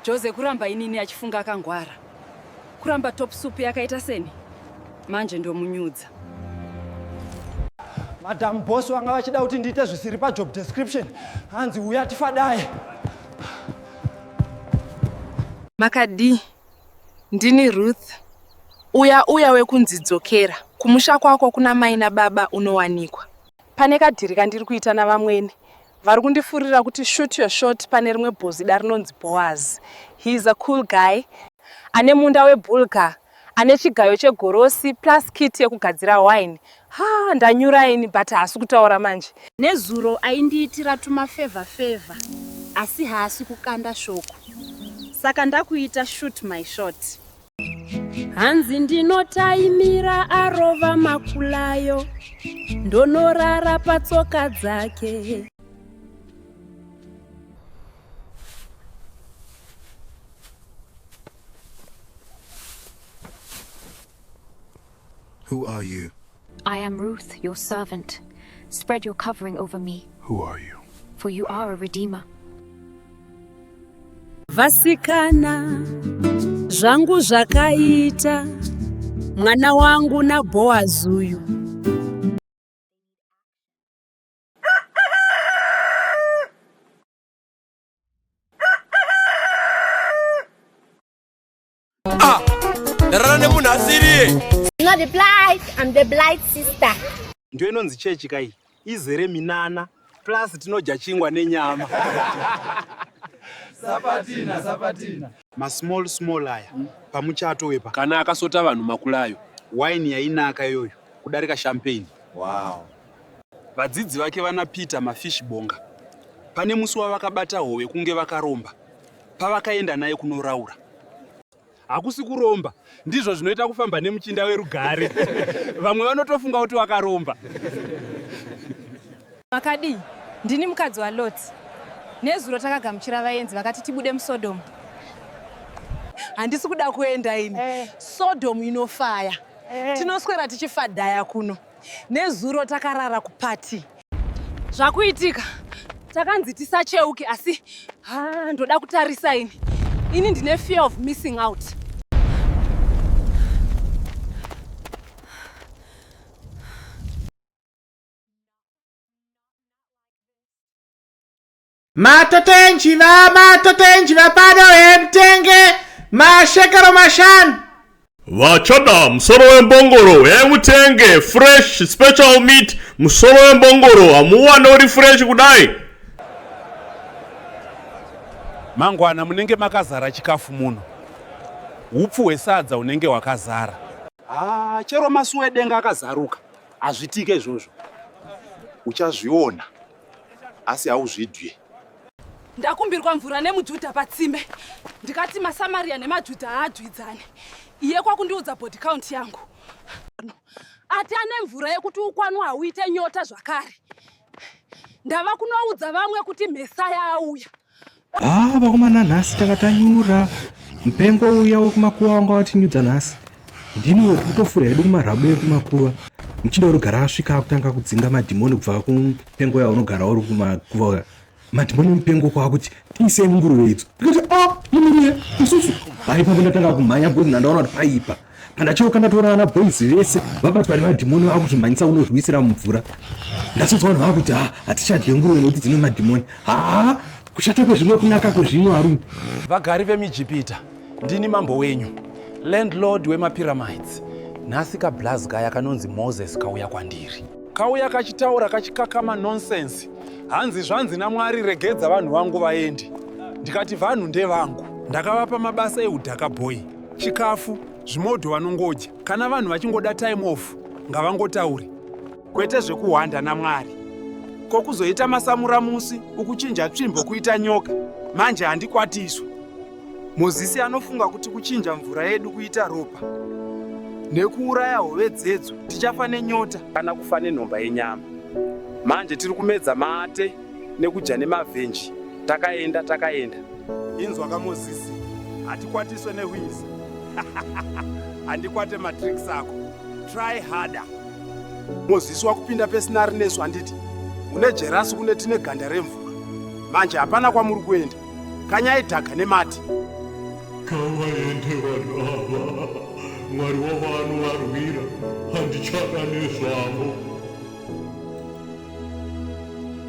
Jose kuramba inini achifunga akangwara. Kuramba top soup yakaita seni. Manje ndomunyudza. Madam boss vanga vachida kuti ndiite zvisiri pa job description. Hanzi uya tifadaye. Makadi, ndini Ruth. Uya uya wekunzi dzokera kumusha kwako kuna mai nababa unowanikwa. Pane kadhiri kandiri kuita navamwene vari kundifurira kuti shoot your shot pane rimwe bhozida rinonzi boaz he is a cool guy ane munda webulga ane chigayo chegorosi plus kit yekugadzira wine ha ndanyura ini but haasi kutaura manje nezuro aindiitira tumafevha fevha asi haasi kukanda shoko saka ndakuita shoot my shot hanzi ndinotaimira arova makulayo ndonorara patsoka dzake Who are you? I am Ruth, your servant. Spread your covering over me. Who are you? For you are a redeemer. Vasikana zvangu zvakaita mwana wangu na Boaz uyu. Ah, ndarara nemunhu asiriye. You know the blight, I'm the blight sister. Ndiyo inonzi chechi kai izere minana plus tinodya chingwa nenyama. Sapatina, sapatina. Ma small small aya mm. pamuchato wepa. Kana akasota vanhu makulayo. Wine yainaka iyoyo kudarika champagne. Wow. Vadzidzi vake vana Peter Mafish Bonga pane musi wavakabata hove kunge vakaromba pavakaenda naye kunoraura hakusi kuromba ndizvo zvinoita kufamba nemuchinda werugare vamwe vanotofunga kuti wakaromba makadii ndini mukadzi waloti nezuro takagamuchira vaenzi vakati tibude musodomu handisi kuda kuenda ini eh. sodomu inofaya eh. tinoswera tichifadhaya kuno Nezuro takarara kuparty. Zvakuitika takanzi tisacheuke asi ha ndoda kutarisa ini. Ini ndine fear of missing out. Matoto enjiva, matoto enjiva pano hemutenge mashekero mashanu. Vachada musoro wembongoro hemutenge fresh special meat musoro wembongoro hamuwane uri fresh kudai. Mangwana munenge makazara chikafu muno. Hupfu hwesadza hunenge hwakazara. Ah, chero masuwe denga akazaruka. Hazvitike izvozvo. Uchazviona. asi hauzvidye ndakumbirwa mvura nemujudha patsime ndikati masamaria nemajudha haadyidzane iye kwakundiudza body count yangu ati ane mvura yekuti ukwanwa hauite nyota zvakare ndava kunoudza vamwe kuti mhesaya auya Haa vakomana nhasi tanga tanyura mupengo uya wekumakuva wanga watinyudza nhasi ndini wekutofura hedu kumarhabu ekumakuva muchinda unogara asvika akutanga kudzinga madhimoni kubva kumupengo ya unogara uri kumakuva uya madhimoni emupengo kwaakuti tiisei munguruve idzo ndikati a ah, imiriye isusu haipa kundatanga kumhanya bcause ndandaona kuti paipa pandacheuka ndatoona vana boys vese vabatwa nemadhimoni vava kuzvimhanyisa kunozviwisira mumvura ndasonzwa vanhu vava kuti ha hatichadye nguruve nekuti dzine madhimoni haa kushata kwezvimwe kunaka kwezvino arume vagari vemijipita ndini mambo wenyu landlord wemapyramides nhasi kablaz kaya kanonzi moses kauya kwandiri kauya kachitaura kachikakama nonsense hanzi zvanzi namwari regedza vanhu vangu vaendi ndikati vanhu ndevangu ndakavapa mabasa eudhaka boy Chikafu, zvimodho vanongodya. Kana vanhu vachingoda time off, ngavangotaure. Kwete zvekuhwanda naMwari. Ko kuzoita masamura musi ukuchinja tsvimbo kuita nyoka. Manje handikwatiswe. Mozisi anofunga kuti kuchinja mvura yedu kuita ropa nekuuraya hove dzedzo tichafa nenyota kana kufa nenhomba yenyama. Manje tiri kumedza mate nekudya nemavhenji takaenda takaenda. Inzwaka Mozisi, hatikwatiswe nehwizi. Handikwate matricks ako. Try harder. Mozisi wakupinda pesinari nesu handiti? Une jerasi kune tine ganda remvura. Manje hapana kwamuri kuenda. Kanyai dhaga nemati. Kavaende vanhu ava. Mwari wavo anovarwira. Handichada nezvavo.